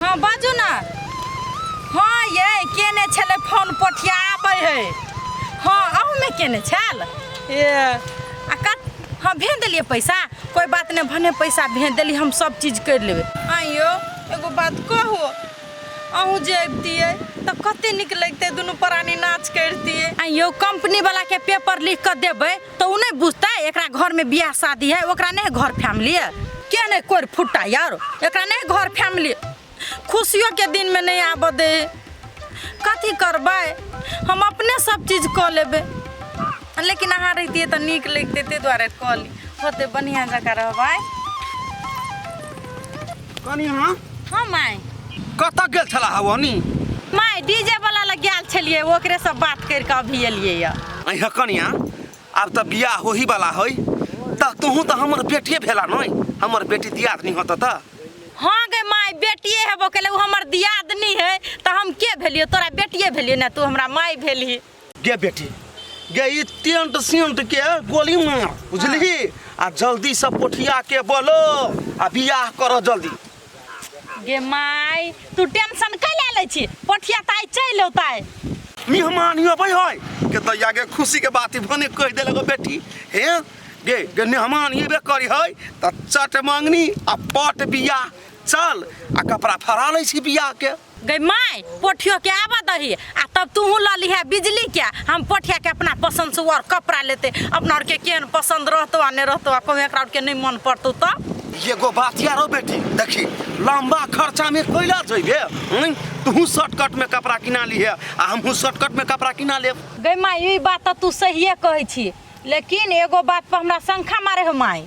हँ बाजू ने हँ ये केने छलै फोन पोठिया आबै है हँ अहूँमे केने छल ए आ कत हँ भेज देलियै पैसा कोइ बात नहि भने पैसा भेज देली हम सब चीज करि लेबै आँ यौ एगो बात कहू अहूँ जे अबितियै तऽ कते नीक लगितै दुनू प्राणी नाच करितियै आ यौ कंपनी वाला के पेपर लिख कऽ देबै तऽ ओ नहि बुझतै एकरा घर में बियाह शादी है ओकरा नहि घर फैमिली है के नहि कोर फुट्टा यार एकरा नहि घर फैमिली खुशियों के दिन में नहीं आबऽ दे कथी करबै हम अपने सब चीज कऽ लेबै लेकिन अहाँ रहितियै तऽ नीक लगितै ताहि दुआरे कहली होते बढ़िआँ जकाँ रहबै कनी अहाँ हँ माय कतऽ गेल छला हवनी माय डीजे वाला लग गेल छलियै ओकरे सब बात करि कऽ अभी एलियै यऽ अहाँ कनिया आब तऽ बियाह होही वाला है तऽ तोहूँ तऽ हमर बेटिए भेला नहि हमर बेटी दियादनी होत तऽ हाँ गे माय बेटिए हेबो केलै ओ हमर दियादनी है तऽ हम के भेलियै तोरा बेटिए भेलियै ने तू हमरा माय भेलही गे बेटी गे ई टेंट सेंट के गोली मार बुझलही आ जल्दी से पोठिया के बोलो आ बियाह कर जल्दी गे माय तू टेंशन कै ले ले छी पोठिया ताई चल औताय मेहमान ही अबै है के दैया गे खुशी के बात भने कह दे लगो बेटी हे गे गे मेहमान ही बे करी है त चट मांगनी आ पट बियाह चल आ कपड़ा फरा लै छी बियाह के गई माय पोठियो के आवा दही आ तब तू ल लिहे बिजली के हम पोठिया के अपना पसंद से और कपड़ा लेते अपना और के केन पसंद रहतो आ ने रहतो आ कोई एकरा और के नहीं मन पड़तो तो एगो बात यारो बेटी देखी लंबा खर्चा में कोयला जइबे हम्म, तू शॉर्टकट में कपड़ा किना लिहे आ हमहू शॉर्टकट में कपड़ा किना लेब गई माय ई बात तो तू सहिए कहै छी लेकिन एगो बात पर हमरा शंका मारे हो माय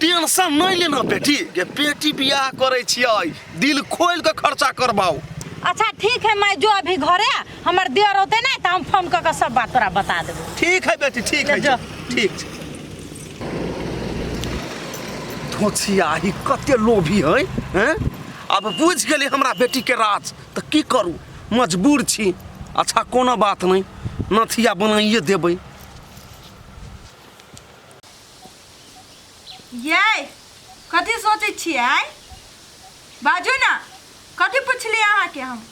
टेंशन नहीं लेना बेटी के बेटी बियाह करे छियै दिल खोल के खर्चा करबाओ अच्छा ठीक है मैं जो अभी घरे हमर देर होते ना तो हम फोन करके सब बात तोरा बता देबो ठीक है बेटी ठीक है जा। ठीक छै धोछिया ही कते लोभी है हैं अब बुझ गेली हमरा बेटी के राज तऽ की करू मजबूर छी अच्छा कोनो बात नहीं नथिया बनाइए देबै यै कथी सोचै छियै बाजू ने कथी पुछलियै अहाँके हम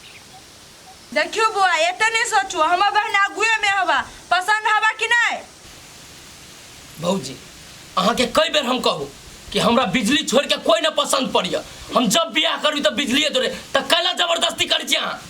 देखियौ बौआ एते नहि सोचू हमर बहन आगुएमे हवा पसन्द हवा कि नहि भौजी अहाँके कई बेर हम कहू कि हमरा बिजली छोड़ के कोई ना पसंद पड़िया हम जब बियाह करबी तब बिजलिए जोड़े तो कैला जबरदस्ती कर छी अहाँ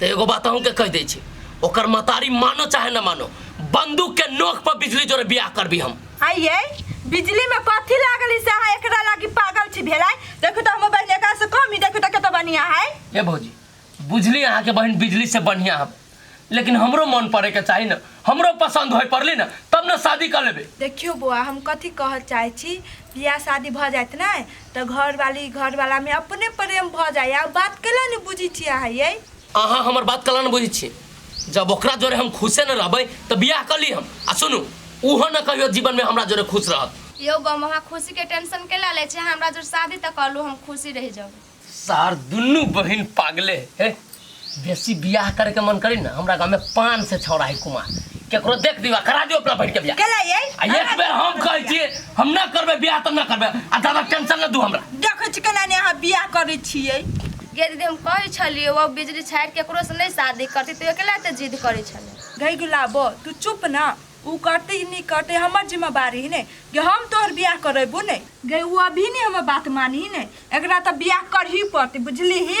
तो एगो बात अहूँ के कह दे छी ओकर मतारी मानो चाहे न मानो बंदूक के नोक पर बिजली जोरे बियाह करबी हम आइए बिजली में कथी लागल है से अहाँ एकरा लागी पागल छी भेलाय देखो तो हम बहन एकरा से कम ही देखो तो कत बढ़िया है ए भौजी बुझली अहाँ के बहन बिजली से बढ़िया हम लेकिन हमरो मन पड़े के चाही न हमरो पसंद होय पड़ली न तब न शादी कर लेबे देखियो बौआ हम कथी कहऽ चाहै छी बियाह शादी भऽ जायत ने तऽ घरवाली घरवालामे अपने प्रेम भऽ जाइए ओ बात केना नहि बुझै छी अहाँ यै अहाँ हमर बात कला न बुझे छी जब ओकरा जोरे हम खुशे न रहबे तो बियाह कर ली हम आ सुनू ओहो न कहियो जीवन में हमरा जोरे खुश रहत यो बम अहाँ खुशी के टेंशन केला ले छी हमरा जोर शादी तक कलू हम खुशी रह जाऊ सार दुनू बहन पागले है बेसी बियाह करे के मन करी ना हमरा गांव में पान से छौड़ा है कुमार केकरो देख दिवा करा दियो अपना बैठ के बियाह केला ये आ एक बेर हम कहै छियै हम ना करबै बियाह तऽ ना करबै आ दादा टेंशन ना दू हमरा देखै छी केना ने अहाँ बियाह करै छियै गे दीदी हम कहै छलियै ओ बिजली छाड़ि केकरो से नहि शादी करती तू अकेला एते जिद करै छलै गई गुलाबो तू चुप ना ऊ करते ही नहीं करते हमर जिम्मेवारी है ने कि हम तोहर बियाह करेबू ने गई ऊ अभी नहीं हमर बात मानी है ने एकरा तो बियाह करही पड़ते बुझली ही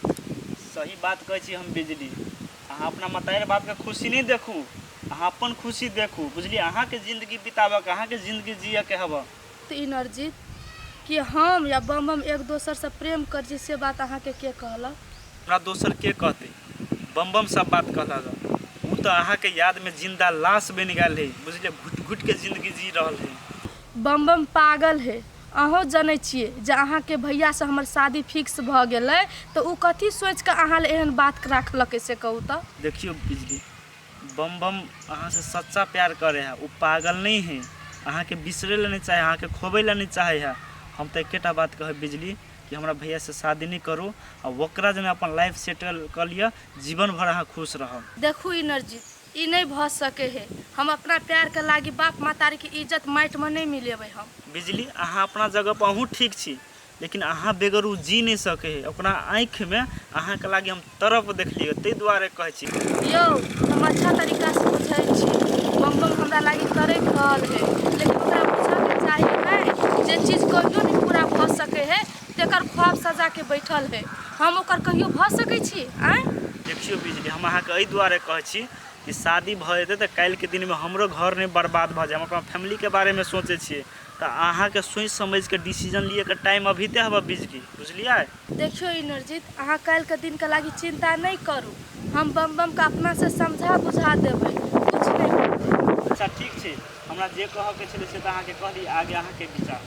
सही बात कहै छी हम बिजली अहाँ अपना मतारी बापके खुशी नहि देखू अहाँ अपन खुशी देखू बुझलियै अहाँके जिन्दगी बिताबऽके अहाँके जिन्दगी जियऽके हबऽ तऽ ई नरजीत कि हम या बम बम एक दोसरसँ प्रेम करै छी से बात अहाँके के कहलक हमरा दोसर के कहतै बम बम सब बात कहलक हँ। ऊ तऽ अहाँके यादमे जिंदा लाश बनि गेल है बुझलियै घुटि घुटिके जिंदगी जी रहल है बमबम पागल हे। अहौं जनै छिए जँ अहाँके भैया सँ हमर शादी फिक्स भऽ गेलै तँ ओ कथी सोचि कऽ अहाँ ले एहन बात राखलकै से कहू तँ। देखियौ बिजली, बमबम अहाँ सँ सच्चा प्यार करै हे। ओ पागल नहि हे। अहाँके बिसरै ले नहि चाहै हे, अहाँके खोबै ले नहि चाहै हे। हम तँ एके टा बात कहब बिजली कि हमरा भैया सँ शादी नहि करू आ ओकरा जने अपन लाइफ सेटल कऽ लिअ। जीवन भरि अहाँ खुश रहब। देखू इनरजीत, ई नै भऽ सके हे। हम अपना प्यार के लागि बाप मातारी के इज्जत माटि मे नै मिलेबै हम। बिजली अहाँ अपना जगह पर अहूँ ठीक छी लेकिन अहाँ बेगर ऊ जी नै सके हे। ओकरा आँखि मे अहाँ के लागि हम तड़प देखलियै तै दुआरे कहै छी। यौ हम अच्छा तरीका सँ बुझै छी। बम बम हमरा लागि तड़ैप रहल हे लेकिन ओकरा बुझऽ के चाही नै जे चीज कहियो नै पूरा भऽ सके हे। तेकर ख्वाब सजा के बैठल है हम ओकर कहियो भ सके छी आय देखियो बिजली हम अहा के ए दुआरे कहे छी कि शादी भ जेते त काल के दिन में हमरो घर ने बर्बाद भ जाए हम अपन फैमिली के बारे में सोचे छी त अहा के सोच समझ के डिसीजन लिए के टाइम अभी ते हबे बिजली बुझलिए देखियो इनरजीत अहा काल के दिन के लागी चिंता नहीं करू हम बम बम के अपना से समझा बुझा देबे कुछ नहीं अच्छा ठीक छी हमरा जे कहऽके छलै से तऽ अहाँके कहली आगे अहाँके विचार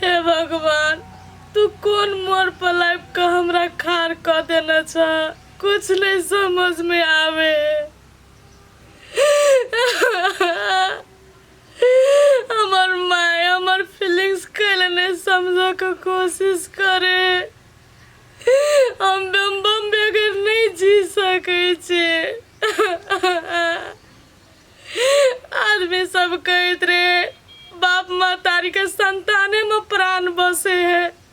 हे भगवान तू कोन मोड़ पर लाइफ का हमरा खार कर देना छा कुछ नहीं समझ में आवे हमर माय हमर फीलिंग्स कैले नहीं समझे के कोशिश करे हम बम बम बगैर नहीं जी सके छे आदमी सब कहत रहे बाप मातारी के संताने में प्राण बसे है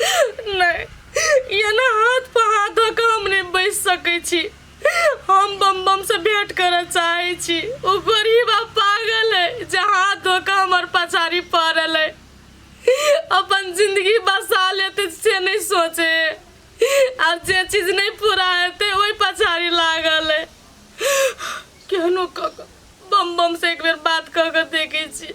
नहि ई एना हाथ पर हाथ धऽ कऽ हम नहि बैस सकै छी हम बम बम से भेंट करऽ चाहै छी ओ गरीब आ पागल है जे हाथ धऽ कऽ हमर पछाड़ी पड़ल है अपन जिंदगी बसा लेते से नहि सोचे आ जे चीज नहि पूरा हेतै ओहि पछाड़ी लागल है केहनो कऽ कऽ बम बम से एक बेर बात कऽ कऽ देखै छी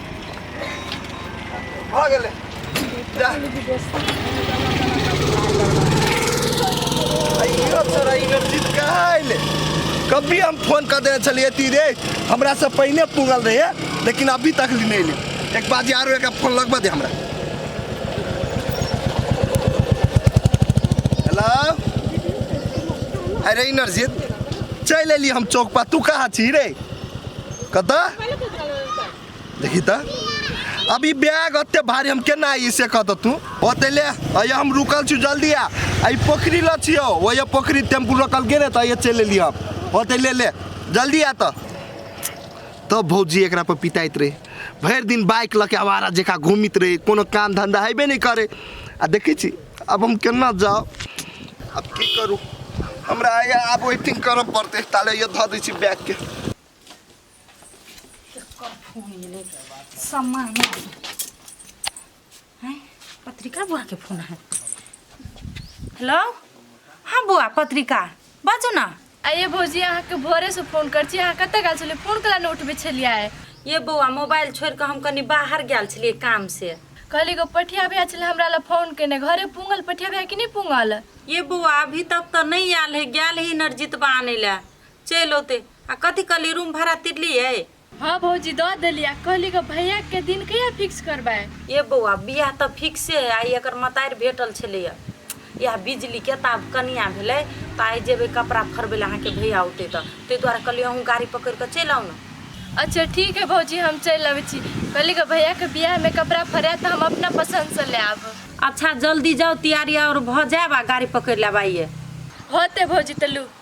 भऽ गेलै जा। अइयो तोरा इनरजीत कहाँ अइले कभी हम फोन कर देने छलिए ती रे हमरा से पहिने पुगल रहे लेकिन अभी तक नहीं अइले एक बार जे आरो एक फोन लगबा दे हमरा हेलो अरे इनरजीत चल अइली हम चौक पर तू कहाँ छी रे कता देखी त अब ई बैग अते भारी हम केना आई से कहत तू ओते ले अया हम रुकल छु जल्दी आ आई पोखरी ल छियो वो ये पोखरी टेम्पू रोकल गेने त ये चले लियो हम ओते ले ले जल्दी आ त तब भौजी एकरा पर पिटाइत रहे भरि दिन बाइक लऽ के आवारा जेका घूमित रहे कोनो काम धंधा हेबे नहि करे आ देखै छी अब हम केना जाओ अब की करू हमरा आया अब वेटिंग करऽ पड़ते ताले ये धऽ दै छी बैग के सम्मा हैं पत्रिका बुआ के फोन है हेलो हाँ बुआ पत्रिका बाजू ना आ ये भौजी अहाँके भोरेसँ फोन करै छी अहाँ कतऽ गेल छलियै फोन कला नहि उठबै छलियै ये बौआ मोबाइल छोड़ि कऽ हम कनि बाहर गेल छलियै काम से कहली एगो पठिया भैया छलै हमरा लए फोन केने घरे पूंगल पठिया भैया कि नहि पूंगल ये बौआ अभी तक तऽ नहि आयल है गेल है नरजितबा आनै लए चलि औते आ कथी कहली रूम भाड़ा तिरलियै हाँ भौजी द देली आ कहली कि भैया के दिन कहिया फिक्स करबाय ए बौआ बियाह तऽ फिक्से है आइ एकर मतारि भेटल छलैए इएह बिजलीके तऽ आब कनिया भेलै तऽ आइ जेबै कपड़ा फरबै लए अहाँके भैया औतै तऽ ताहि दुआरे कहलियै अहूँ गाड़ी पकड़ि कऽ चलि आउ ने अच्छा ठीक है भौजी हम चलि अबै छी कहली कि भैया के बियाह में कपड़ा फरायत तऽ हम अपना पसंद से ले आब अच्छा जल्दी जाउ तैयारी आओर भऽ जायब आ गाड़ी पकड़ि लेब आइए होते भौजी तलू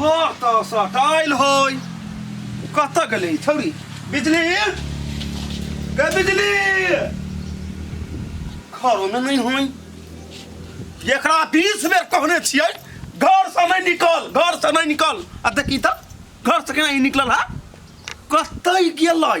घर तऽ सटाइल होय कतऽ गेलै छौरी बिजली गे बिजली घरोमे नहि होय एकरा बीस बेर कहने छियै घर से नहि निकल घर से नहि निकल आ देखी तऽ घर से केना ई निकलल है कतै गेलै